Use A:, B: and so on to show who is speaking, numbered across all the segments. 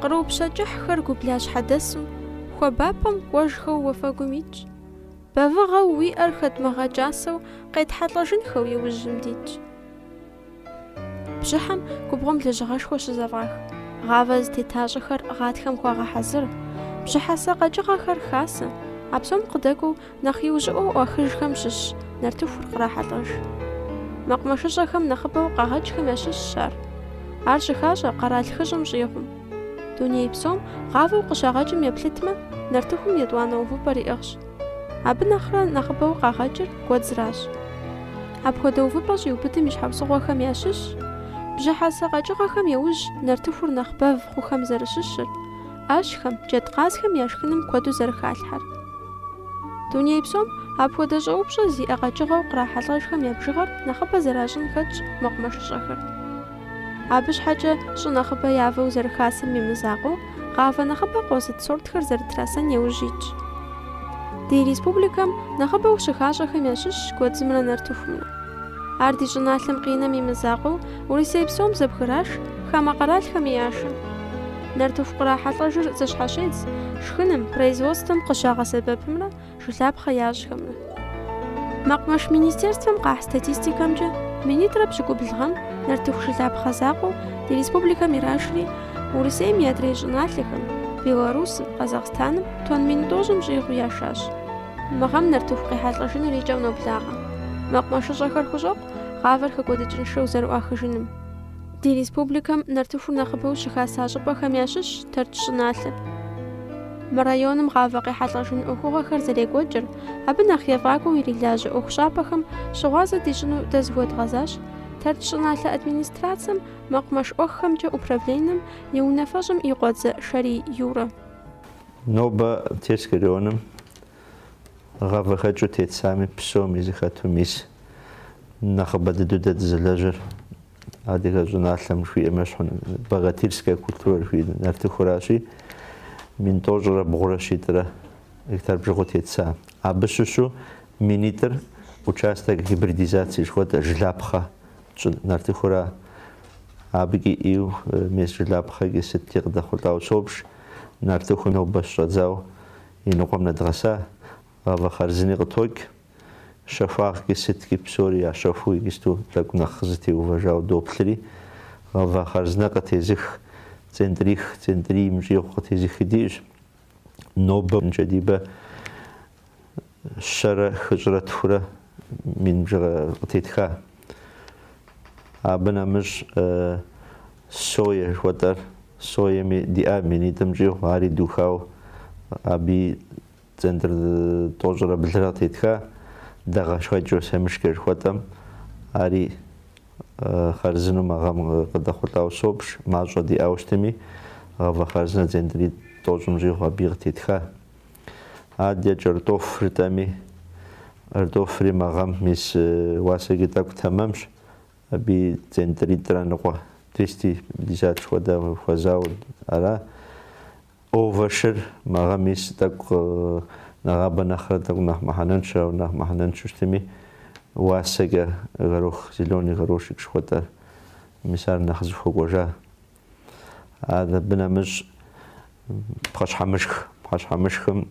A: Къру пщэ кӏыхьхэр гублащхьэдэсым, хуабапӏэм кӏуэжхэу уафэгум итщ. Бэвыгъэу уиӏэр хэдмыгъэкӏасэу, къетхьэлӏэжынхэу иужьым дитщ. Бжьыхьэм губгъуэм лэжьыгъэшхуэ щызэфӏах, гъавэ зытетащӏэхэр гъатхэм хуагъэхьэзыр, бжьыхьэсэ къэкӏыгъэхэр хасэ, а псом къыдэкӏуэу Нэхъ иужьыӏуэу ӏуахыжхэм щыщ нартыхур кърахьэлӏэж. Мэкъумэшыщӏэхэм нэхъыбэу къагъэкӏхэм ящыщщ ар. Ар щыхащӏэ къэрал хыщӏым щӏигъум. Дуней псом гъавэу къыщагъэкӏым еплъытмэ, нартыхум етӏуанэ увыпӏэр иӏыгъщ. Абы нэхърэ нэхъыбэу къагъэкӏыр гуэдзращ. Апхуэдэ увыпӏэ щӏиубыдым и щхьэусыгъуэхэм ящыщщ бжьыхьэсэ къэкӏыгъэхэм яужь нартыхур нэхъ бэв хъухэм зэрыщыщыр, ӏэщхэм, джэдкъазхэм я шхыным куэду зэрыхалъхьэр. Дуней псом апхуэдэ щӏэупщӏэ зиӏэ къэкӏыгъэу кърахьэлӏэжхэм я бжыгъэр нэхъыбэ зэращӏын хэтщ мэкъумэшыщӏэхэр. Абы щхьэкӏэ щӏы нэхъыбэ явэу зэрыхасэм и мызакъуэу, гъавэ нэхъыбэ къозыт сортхэр зэрытрасэн яужь итщ. Ди республикэм нэхъыбэу щыхащӏэхэм ящыщщ гуэдзымрэ нартыхумрэ. Ар ди щӏыналъэм къинэм и мызакъуэу, Урысей псом зэбгыраш хамэ къэралхэми яшэ. Нартыху кърахьэлӏэжыр зэщхьэщедз шхыным, производствэм къыщагъэсэбэпымрэ жылапхъэ ящӏхэмрэ. Мэкъумэш министерствэм къахь статистикэмкӏэ, минитӏрэ пщыкӏубл гъэм нартыху жылапхъэ закъуэу ди республикэм ирашри, Урысейм и адрей щӏыналъэхэм, Беларусым, Къэзахъстаным тонн мин тӏощӏым щӏигъу яшащ. Мы гъэм нартыху къехьэлӏэжыныр и кӏэм ноблагъэ. Мэкъумэшыщӏэхэр хущӏэкъу гъавэр хэкӏуэдыкӏыншэу зэрыӏуахыжыным. Ди республикэм нартыхур нэхъыбэу щыхаса щӏыпӏэхэм ящыщщ Тэрч щӏыналъэр. Мы районым гъавэ къехьэлӏэжын ӏуэхугъуэхэр зэрекӏуэкӏыр, абы нэхъ ефӏакӏуэу ирилажьэ ӏуэхущӏапӏэхэм щыгъуазэ дищӏыну дэ зыхуэдгъэзащ Тэрч щӏыналъэ администрацэм мэкъумэш ӏуэххэмкӏэ управленэм и унафэщӏым и къуэдзэ Шэрий Юрэ. Нобэ Терск районым гъавэхэкӏыу тетсами, псоми зыхэту мис нэхъыбэ дыдэу дэ дызэлэжьэр Адыгэ щӏыналъэм жиӏэм ещхьу, богатырская культура жи нартыхуращи, мин тӏощӏрэ бгъурэ щитӏрэ гектар бжыгъэу тетса. Абы щыщу минитӏыр участок гибридизации жыхуэтӏэ жылапхъэ тщӏы нартыхура. Абыкӏи ӏийу мес жылапхъэкӏи сыткӏи къыдэхъулӏауэ собж, нартыху нобэ щӏэддзауэ и ныкъуэм нэдгъэса, гъавэ хъарзыни къытокӏ. щэхуагъкӏи сыткӏи псори ящэхуу иджысту тӏэкӏу нэхъ къызытеувэжауэ доплъри, гъавэ хъарзынэ къытезых, центрих, центрийм щӏигъу къытезыхи диӏэщ. Нобэ Джэдибэ щэрэ хыщӏрэ тхурэ мин бжыгъэ къытетха. Абы нэмыщӏ сое жыхуэтӏэр, соеми диӏа минитӏым щӏигъу, ари духауэ абыи Центр тӏощӏрэ блырэ къытетха дэгъэшхэкӏ Осэмышкэ жыхуэтӏэм, ари хъарзынэу мы гъэм къыдэхъулӏауэ собж, мащӏэ диӏауэ щытми, гъавэ хъарзынэ центри тӏощӏым щӏигъу абыи къытетха. Адэкӏэ кӏэртӏоф жытӏэми, кӏэртӏофри мы гъэм мис уасэкӏи тӏэкӏу тэмэмщ, абыи центритӏрэ ныкъуэ двести пятьдесят хуэдэ хуэзауэ ара. Овощыр мы гъэм мис тӏэкӏу нэгъабэ нэхърэ тӏэкӏу нэхъ мыхьэнэншэ, ауэ нэхъ мыхьэнэншэу щытми, уасэкӏэ горох, зеленый горошек жыхуэтӏэр, мис ар нэхъ зыхуэкӏуэжа. А абы нэмыщӏ пхъэщхьэмышх, пхъэщхьэмышхым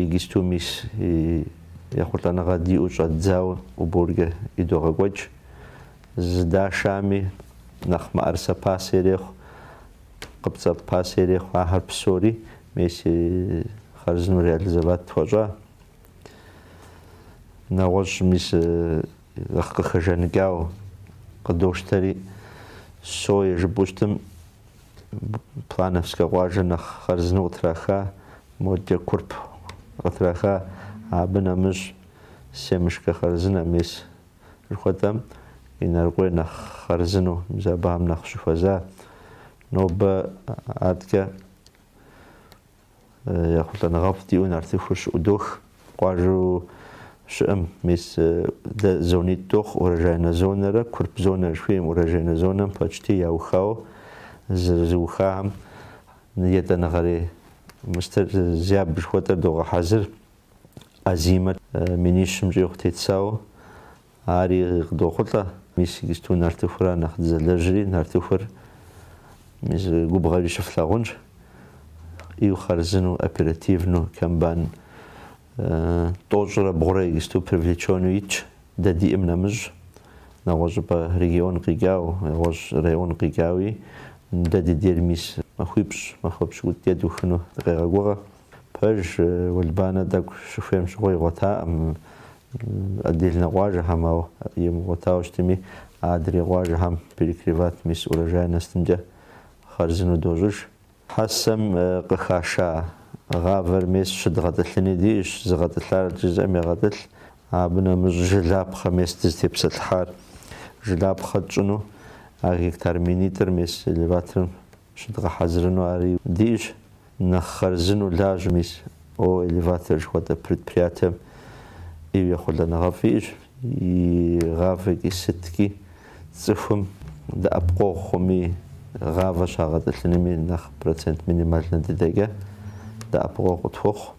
A: иджысту мис ехъулӏэныгъэ диӏэу щӏэддзауэ уборкэ идогъэкӏуэкӏ. Зыдашами нэхъ мыӏэрысэ пасэ ирехъу. Къыпцӏэ пасэ ирехъу, ахэр псори мис хъарзынэу реализовать тхуэщӏа. Нэгъуэщӏ мис нэхъ къыхэжаныкӏауэ къыдощтэри, сое жыпӏэу щытым, Плановскэ къуажэр нэхъ хъарзынэу къытраха, модэкӏэ Курп къытраха, абы нэмыщӏ семышкэ хъарзынэ мис Жыхуэтӏэм Инарыкъуей нэхъ хъарзыну, мис абыхэм нэхъ щыхуэза. Нобэ адэкӏэ ехъулӏэныгъэфӏ диӏэу нартыхур щыӏудох къуажэу щыӏэм. Мис дэ зонитӏ дохъу Урожайнэ зонэрэ Курп зонэр жыхуиӏэм. Урожайнэ зонэм почти яухауэ зэрызыухахэм етӏанэгъэрей мис зябь жыхуэтӏэр догъэхьэзыр. Озимэ минищым щӏигъу тетсауэ ари къыдохъулӏэ. Мис иджысту нартыхура нэхъ дызэлэжьри, нартыхур мис губгъуэми щыфлъагъунщ. Ӏиу хъарзыну, оперативну комбайн тӏощӏрэ бгъурэ иджысту привлечену итщ, дэ диӏэм нэмыщӏ. Нэгъуэщӏыпӏэ регион къикӏау, нэгъуэщӏ район къикӏауи, дэ ди дер мис махуипщӏ, махуэ пщыкӏутӏ дэ духыну дыкъегъэгугъэ. Пэж уэлбанэ тӏэкӏу щыхуейм щыгъуэ игъуэтакъым отдельнэ къуажэхэм, ауэ имыгъуэтауэ щытми, адрей къуажэхэм перекрывать мис урожайностымкӏэ хъарзынэу дощӏыж. Хьэсэм къыхаша гъавэр мес щыдгъэтӏылъыни диӏэщ, згъэтӏылъарэт жызыӏэм егъэтӏылъ, абы нэмыщӏ жылапхъэ мес дызытепсэлъыхьар. Жылапхъэ тщӏыну а гектар минитӏыр мес элеваторым Щыдгъэхьэзырыну ари диӏэщ, нэхъ хъарзыну лажьэ мис. О Элеватор жыхуэтӏэ предприятием ӏейуи ехъулӏэныгъэфӏ иӏэщ, и гъавэкӏи сыткӏи цӏыхум дэӏэпыкъуэгъу хъуми, гъавэ щагъэтӏылъынми нэхъ процент минимальнэ дыдэкӏэ дэӏэпыкъуэгъу къытхуэхъу.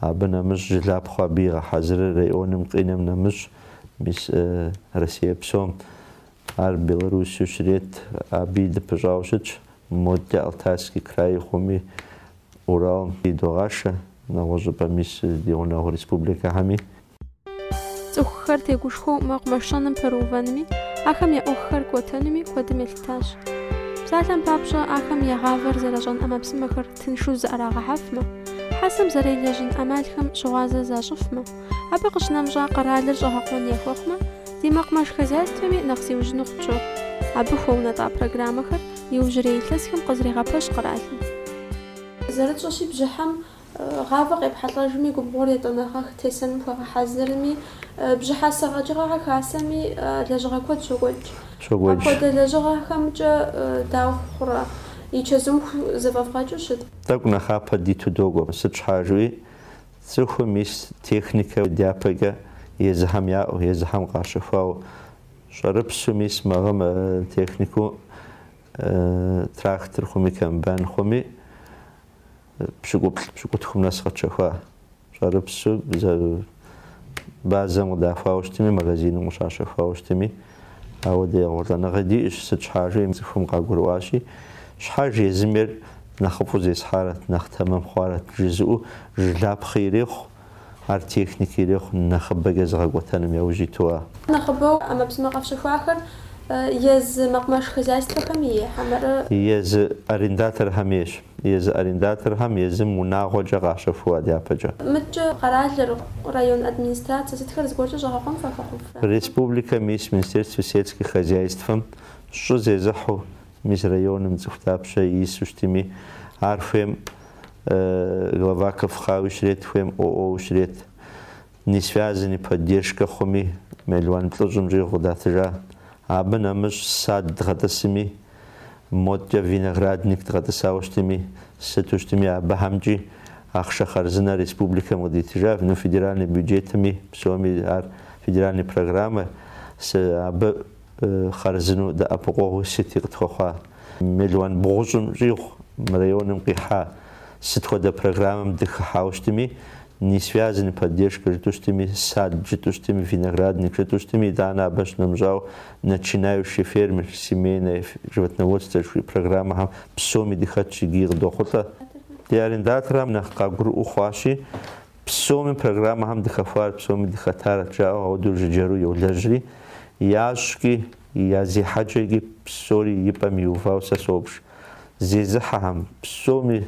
A: Абы нэмыщӏ жылапхъэу абы игъэхьэзырыр районым къинэм нэмыщӏ, мис Россие псом Ар Беларусыу щрет, абыи дыпыщӏауэ щытщ, модкӏэ Алтайский край хъуми, Уралми идогъашэ, нэгъуэщӏыпӏэ мис ди гъунэгъу республикэхэми. Цӏыхухэр тегушхуэу мэкъумэшыщӏэным пэрыувэнми, ахэм я ӏуэхухэр кӏуэтэнуми куэдым елъытащ. Псалъэм папщӏэ, ахэм я гъавэр зэращӏэн ӏэмэпсымэхэр тыншу зыӏэрагъэхьэфмэ, Хьэсэм зэрелэжьын ӏэмалхэм щыгъуазэ защӏыфмэ, Абы къыщынэмыщӏа къэралыр щӏэгъэкъуэн яхуэхъумэ, ди мэкъумэш хозяйствэми нэхъ зиужьыну хъунущ. Абы хуэунэтӏа программэхэр иужьрей илъэсхэм къызэрегъэпэщ къэралым. Зэрытщӏэщи, бжьыхьэм гъавэ къепхьэлӏэжми, губгъуэр етӏанэгъэ тесэным хуагъэхьэзырми, бжьыхьэсэ къэкӏыгъэхэр хасэми лэжьыгъэ куэд щокӏуэкӏ. Апхуэдэ лэжьыгъэхэмкӏэ дауэ хъурэ? И чэзум зэфӏэвгъэкӏыу щыт? Тӏэкӏу нэхъапэ диту докӏуэ, сыт щхьа жыпӏи Цӏыхум мис техникэ дяпэкӏэ езыхэм яӏэу, езыхэм къащэхуауэ, щӏэрыпсу мис мы гъэм технику, трактор хъуми, комбайн хъуми, пщыкӏуплӏ, пщыкӏутхум нэс къэтщэхуа щӏэрыпсу базэм къыдахуауэ щытми, магазиным къыщащэхуауэ щытми, Ауэ ди ехъулӏэныгъи диӏэщ, сыт щхьа жыпӏэм цӏыхум къагурыӏуащи, Щхьэж езым ейр нэхъыфӏу зесхьарэт, нэхъ тэмэм хъуарэт, жызыӏэу жылапхъи ирехъу, ар техники ирехъу нэхъыбэкӏэ зыгъэкӏуэтэнум яужь иту-а? Нэхъыбэу ӏэмэпсымэ къэфщэхуахэр езы мэкъумэш хозяйствэхэм ей хьэмэрэ? Езы арендаторхэм ейщ. езы арендаторхэм езым унагъуэкӏэ къащэхуа дяпэкӏэ. Мыдкӏэ къэралыр, район администрацэ сытхэр зыгуэркӏэ щӏэгъэкъуэн фхуэхъуфрэ? Республикэ мис Министерствэ сельскэ хозяйствэм щӏы зезыхьу, мис районым цӏыху дапщэ ису щытми, ар хуейм глава КФХ-уи щрет, хуейм ОО-уи щрет, несвязанный поддержкэ хъуми, мелуан плӏыщӏым щӏигъу къыдатыжа. Абы нэмыщӏ сад дгъэтӏысми, Модкӏэ виноградник дгъэтӏысауэ щытми, сыту щытми абыхэмкӏи ахъшэ хъарзынэр республикэм къыдитыжа, ну федеральный бюджетми, псори ар федеральный программэщ, абы хъарзыну дэӏэпыкъуэгъуи сыти къытхуэхъуа. Мелуан бгъущӏым щӏигъу мы районым къихьа сыт хуэдэ программэм дыхыхьауэ щытми, несвязанный поддержка жытӏу щытми, сад жытӏу щытми, виноградник жытӏу щытми, итӏанэ абы щынэмыщӏауэ Начинающий фермер, Семейное животноводство жыхуиӏэ программэхэм псоми дыхэтщ, икӏи къыдохъулӏэ. Ди арендаторхэм нэхъ къагурыӏуэу хъуащи, псоми программэхэм дыхэхуар, псоми дыхэтарэт жаӏэу ауэдэу жыджэру йолэжьри, я щӏыкӏи, я зехьэкӏэкӏи псори и пӏэм иувауэ сэ собж, зезыхьэхэм, псоми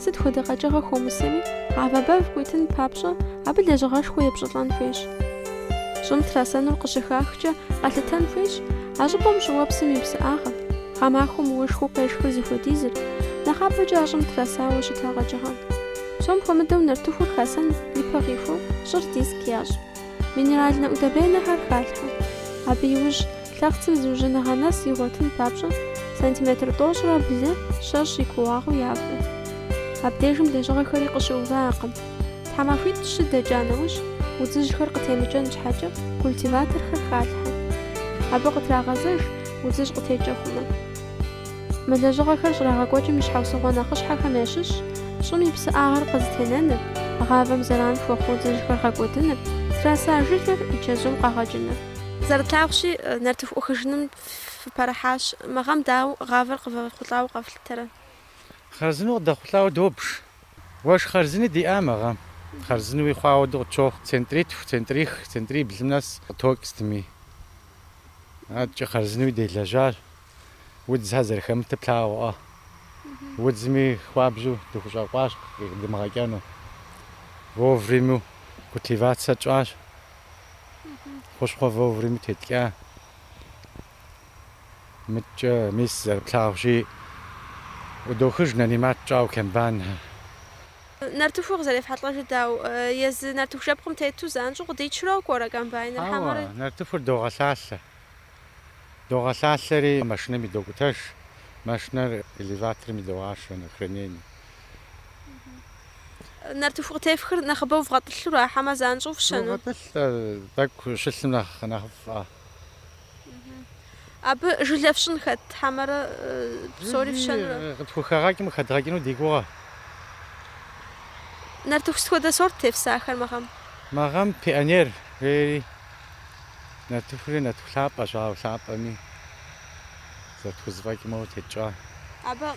A: Сыт хуэдэ къэкӏыгъэ хыумысэми, гъавэ бэв къуитын папщӏэ, абы лэжьыгъэшхуэ епщӏылӏэн хуейщ. Щӏым трасэнур къыщыхахкӏэ, къэлъытэн хуейщ а щӏыпӏэм щӏыуэпсым и псыӏагъэр, гъэмахуэм уэшхыу къешхыр зыхуэдизыр, нэхъапэкӏэ а щӏым трасауэ щыта къэкӏыгъэр. Псом хуэмыдэу нартыхур хасэн ипэ къихуэу щӏыр диск ящӏ. Минеральнэ удобренэхэр халъхьэ. Абы иужь лъэхъцым зыужьыныгъэ нэс игъуэтын папщӏэ, сантиметр тӏощӏрэ блырэ щэщӏ и кууагъыу явэ. Абдежым лэжьыгъэхэри къыщыувыӏэкъым. Тхьэмахуитӏ щы дэкӏа нэужь, удзыжьхэр къытемыкӏэн щхьэкӏэ, культиваторхэр халъхьэ. Абы къытрагъэзэж, удзыжь къытекӏэ хъумэ. Мы лэжьыгъэхэр щӏрагъэкӏуэкӏым и щхьэусыгъуэ нэхъыщхьэхэм ящыщщ, щӏым и псыӏагъэр къызэтенэныр, гъавэм зэран хуэхъу удзыжьхэр гъэкӏуэдыныр, траса жылэр и чэзум къэгъэкӏыныр. Зэрытлъагъущи, нартыху ӏуэхыжыным фыпэрыхьащ. Мы гъэм дауэ гъавэр къывэхъулӏауэ къэфлъытэрэ? Хъарзынэу къыдэхъулӏауэ добж. Уэшх хъарзыни диӏа мы гъэм. Хъарзынуи хъуауэ дэ къытщохъу, центритху, центрих, центриблым нэс къытокӏ сытми. Адэкӏэ хъарзынуи делэжьащ, удзхэр зэрыхэмытыр плъагъуӏэ. Удзми хуабжьу дыхущӏэкъуащ къыдымыгъэкӏэну. Вовремю культивацэ тщӏащ. хущхъуэ вовремя теткӏа. Мыдкӏэ, мис, зэрыплъагъущи, ӏудохыж, нанимать тщӏауэ комбайнхэр. Нартыхур къызэрефхьэлӏэжыр дауэ? Езы нартыху жэпкъым тету занщӏэу къыдичрэ кӏуэрэ комбайныр хьэмэрэ? Хьэуэ, нартыхур догъэлъалъэ. Догъэлъалъэри, машинэм идокӏутэж, машинэр элеваторым идогъашэ, на хранение. Нартыху къытефхыр нэхъыбэу вгъэтӏылъу ара, хьэмэ занщӏэу фщэну? Догъэтӏылъ, тӏэкӏу щылъым нэхъ нэхъыфӏ. Абы жылэ фщӏын хэт, хьэмэрэ псори фщэнурэ? Жыли къытхухэгъэкӏым къыхэдгъэкӏыну ди гугъэ. Нартыху сыт хуэдэ сорт тефсахэр мы гъэм? Мы гъэм Пионер жери. Нартыхури нартыху лъапӏэщ, ауэ лъапӏэми зэрытхузэфӏэкӏмэ утекӏа. Абы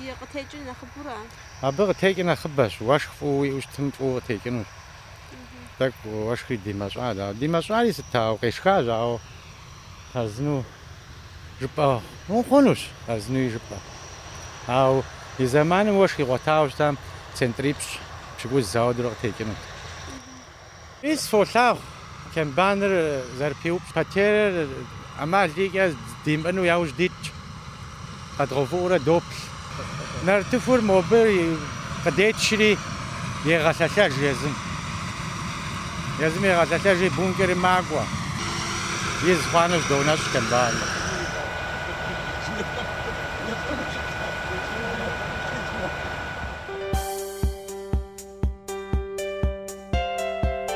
A: и къытекӏыр нэхъыбэура? Абы къытекӏыр нэхъыбэщ, уэшх фӏыуэ уиӏэу щытым фӏыуэ къытекӏынущ. Тӏэкӏу уэшхри димэщӏат, ауэ димэщӏари сыт, ауэ къешхащ, ауэ хъарзыну жыпӏэ хъунущ, хъарзынуи жыпӏэ. Ауэ и зэманым уэшх игъуэтауэ щытам центрипщӏ пщыкӏуз зауэдурэ къытекӏынут. Мис фолъагъу комбайныр зэрыпиупщӏ потерэр ӏэмал икӏэ димыӏэну яужь дитщ, къэдгъэувыӏуурэ доплъ. Нартыхур мобы къыдечри, егъэлъэлъэж езым. Езым егъэлъэлъэжри, бункерым макӏуэ. Из хъуа нэужь доунэщӏ комбайныр.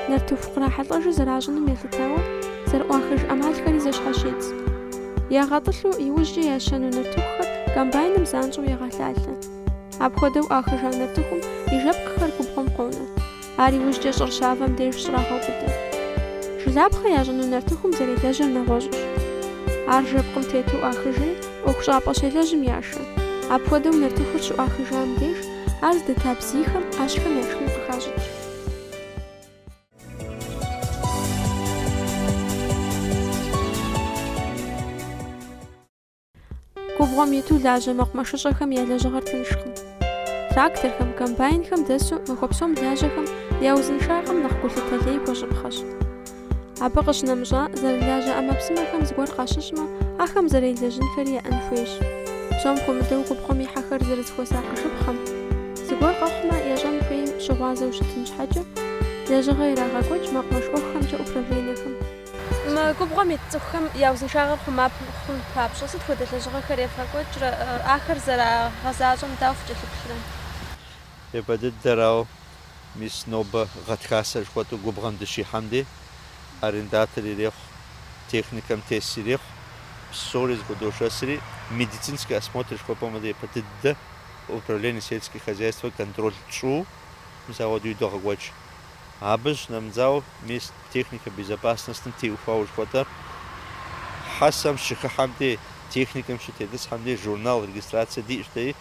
A: Нартыху кърахьэлӏэжу зэращӏыным елъытауэ, зэрыӏуахыж ӏэмалхэри зэщхьэщедз. Ягъэтӏылъу, иужькӏэ ящэну нартыхухэр комбайным занщӏэу егъэлъалъэ. Апхуэдэу ӏуахыжа нартыхум и жэпкъхэр губгъуэм къонэ. Ар иужькӏэ щӏыр щавэм деж щӏрагъэубыдэ. Жылапхъэ ящӏыну нартыхум зэрелэжьэр нэгъуэщӏщ. Ар жэпкъым тету ӏуахыжри, ӏуэхущӏапӏэ щелэжьым яшэ. Апхуэдэу нартыхур щыӏуахыжам деж, Ар здэта бзийхэм ӏэщхэм я шхын къыхащӏыкӏ. Губгъуэм иту лажьэ мэкъумэшыщӏэхэм я лэжьыгъэр тыншкъым. Тракторхэм, комбайнхэм дэсу махуэ псом лажьэхэм я узыншагъэм нэхъ гулъытэ лей хуэщӏыпхъэщ. Абы къыщынэмыщӏа зэрылажьэ ӏэмэпсымэхэм зыгуэр къащыщӏмэ, ахэм зэрелэжьынхэри яӏэн хуейщ. Псом хуэмыдэу губгъуэм ихьэхэр зэрызыхуэсакъыжыпхъэм, зыгуэр къэхъумэ, ящӏэн хуейм щыгъуазэу щытын щхьэкӏэ, лэжьыгъэ ирагъэкӏуэкӏ мэкъумэш ӏуэхухэмкӏэ управленэхэм. Мы губгъуэм ит цӏыхухэм я узыншагъэр хъума хъун папщӏэ, сыт хуэдэ лэжьыгъэхэр евгъэкӏуэкӏрэ, ахэр зэрагъэзащӏэм дауэ фыкӏэлъыплърэ? Япэ дыдэрауэ, Мис нобэ гъатхасэ жыхуэтӏу губгъэм дыщихьэм де, арендатор ирехъу, техникэм тес ирехъу, псори зэхудошэсри, медицинскэ осмотр жыхуэпӏэм хуэдэ япэ дыдэ Управление сельскэ хозяйствэ контроль тщӏу, мис ахуэдэу идогъэкӏуэкӏ. Абы щынэмыщӏауэ мис техникэ безопасностым теухуауэ жыхуэтӏэр, хьэсэм щыхыхьэм де, техникэм щытетӏысхьэм де журнал регистрацэ диӏэщ дэи,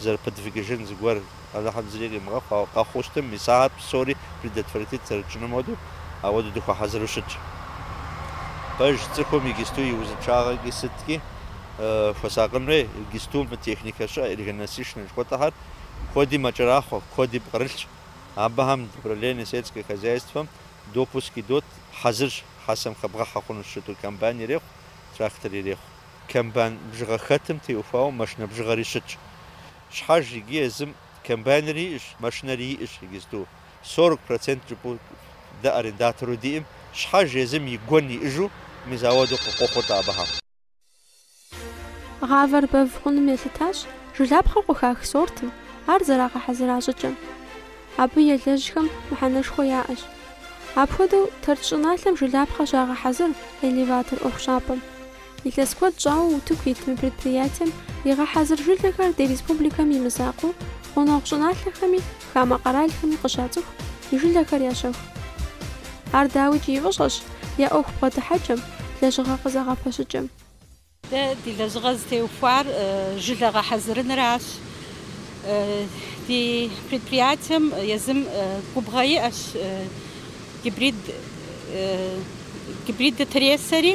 A: зэрыпыдвигыжын зыгуэр Алыхьым зыри къимыгъэхъу, ауэ къэхъуу щытым, мис ахэр псори предотвратит зэрытщӏыным хуэдэу, ауэдэу дыхуэхьэзыру щытщ. Пэж цӏыхум игисту и узыншагъэкӏи сыткӏи хуэсакъын хуей, игисту мы техникэ щыӏэ энергонасыщеннэ жыхуэтӏэхэр куэду мэкӏэрахъуэ, куэдыи пкърылъщ. Абыхэм Управление сельское хозяйствэм допуск идот, хьэзырщ, хьэсэм хэбгъэхьэ хъунущ щыту комбайн ирехъу, трактор ирехъу. Комбайн бжыгъэ хэтым теухуауэ машинэ бжыгъэри щытщ. Щхьэж иджы езым комбайнри иӏыщ, машинэри иӏыщ иджысту. Сорок процент щӏыпӏу дэ арендатору диӏым, щхьэж езым и гуэн иӏыжу ауэдэу къекӏуэкӏыу абыхэм. Гъавэр бэв хъуным елъытащ жылапхъэу къыхах сортым, ар зэрагъэхьэзыра щӏыкӏэм. Абы елэжьхэм мыхьэнэшхуэ яӏэщ. Апхуэдэу Тэрч щӏыналъэм жылапхъэ щагъэхьэзыр элеватор ӏуэхущӏапӏэм. Илъэс куэд щӏауэ утыку ит мы предприятием игъэхьэзыр жылэхэр ди республикэм и мызакъуэу, гъунэгъу щӏыналъэхэми, хамэ къэралхэми къыщацӏыху, и жылэхэр ящэху. Ар дауикӏ и фӏыщӏэщ я ӏуэху бгъэдыхьэкӏэм, лэжьыгъэ къызэгъэпэщыкӏэм. Дэ ди лэжьыгъэ зытеухуар жылэ гъэхьэзырыныращ. Ди предприятием езым губгъуэ иӏэщ гибрид гибрид тресэри.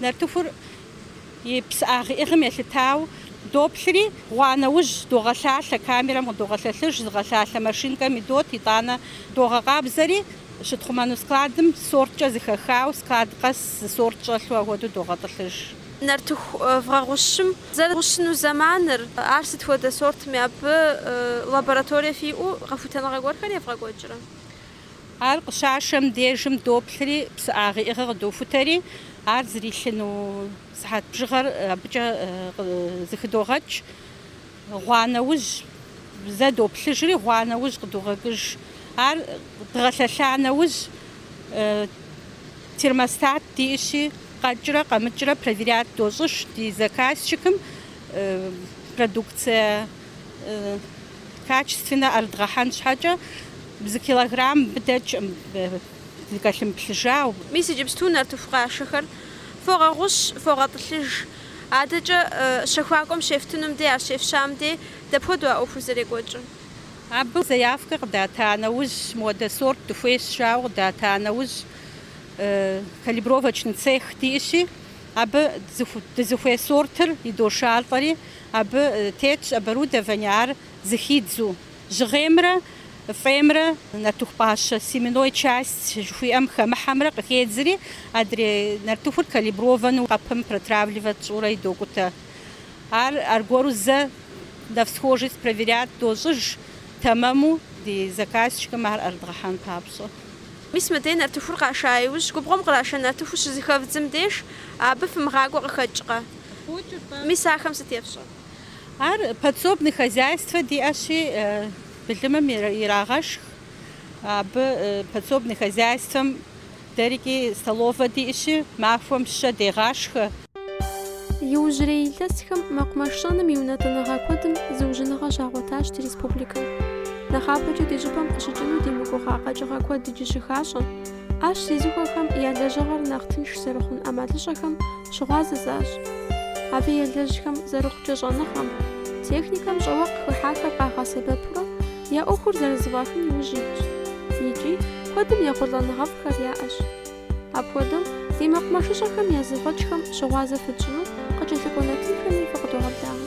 A: Нартыхур и псыӏагъ иӏыгъым елъытау доплъри, гъуа нэужь догъэлъалъэ, камерэм къыдогъэлъэлъыж, зыгъэлъалъэ машинкэм идот, итӏанэ догъэкъабзэри, щытхъумэну складым сорткӏэ зыхэхау, склад къэс зы сорт щӏэлъу ахуэдэу догъэтӏылъыж. Нартыху вгъэгъущым зэрыгъущыну зэманыр, ар сыт хуэдэ сортми абы лабораторие фиӏэу къэхутэныгъэ гуэрхэр евгъэкӏуэкӏрэ? Ар къыщашэм дежым доплъри, псыӏагъ иӏыгъыр къыдохутэри, ар зрилъыну сыхьэт бжыгъэр абыкӏэ зыхыдогъэкӏ. Гъуа нэужь зэ доплъыжри, гъуа нэужь къыдогъэкӏыж. Ар дгъэлъэлъа нэужь, термостат диӏыщи, къэкӏрэ къэмыкӏрэ проверят дощӏыж ди заказчикым продукцие. качественнэ ӏэрыдгъэхьэн щхьэкӏэ зы килограмм дыдэкӏым дыкӏэлъымыплъыжау. Мис иджыпсту нартыху къашэхэр фогъэгъущ, фогъэтӏылъыж. Адэкӏэ щэхуакӏуэм щефтынум дей, ар щефщэм дей дапхуэдэу а ӏуэхур зэрекӏуэкӏыр? Абы заявкэ къыдата нэужь, мыуэдэ сорт дыхуейщ жауэ къыдата нэужь, калибровочный цех диӏыщи, абы дызыхуей сортыр идошалӏэри, Абы тетщ оборудование ар зыхидзу. Жьыгъеймрэ фӏеймрэ нартыху пӏащэ, семенной часть жыхуиӏэм хэмыхьэмрэ къыхедзри, адрей нартыхур калиброванэу къэпым протравливать тщӏурэ идокӏутэ. Ар аргуэру зэ на всхожесть проверять дощӏыж, тэмэму ди заказчикым ар ӏэрыдгъэхьэн папщӏэ. Мис мыдей нартыхур къаша иужь, губгъуэм къраша нартыху щызэхэвдзым деж, абы фымыгъакӏуэ къыхэкӏкъэ? Мис ахэм сыт ефщӏэр? Ар подсобный хозяйствэ диӏэщи, былымым ирагъэшх. Абы подсобный хозяйствэм дэрикӏи столовэ диӏэщи, махуэм щэ дегъашхэ. Иужьрей илъэсхэм мэкъумэш щӏэным и унэтӏыныгъэ куэдым зыужьыныгъэ щагъуэтащ ди республикэм. Нэхъапэкӏэ ди щӏыпӏэм къыщыкӏыну димыгугъа къэкӏыгъэ куэд иджы щыхащӏэ. ӏэщ зезыхуэхэм я лэжьыгъэр нэхъ тынш зэрыхъун ӏэмалыщӏэхэм щыгъуазэ защӏ. Абы елэжьхэм зэрыхъукӏэ щӏэныгъэм, техникэм щӏэуэ къыхыхьахэр къагъэсэбэпурэ я ӏуэхур зэрызэфӏахын иужь итщ. Икӏи куэдым ехъулӏэныгъэфӏхэр яӏэщ. Апхуэдэу ди мэкъумэшыщӏэхэм я зэфӏэкӏхэм щыгъуазэ фытщӏыну къыкӏэлъыкӏуэ нэтынхэми фыкъыдогъэблагъэ.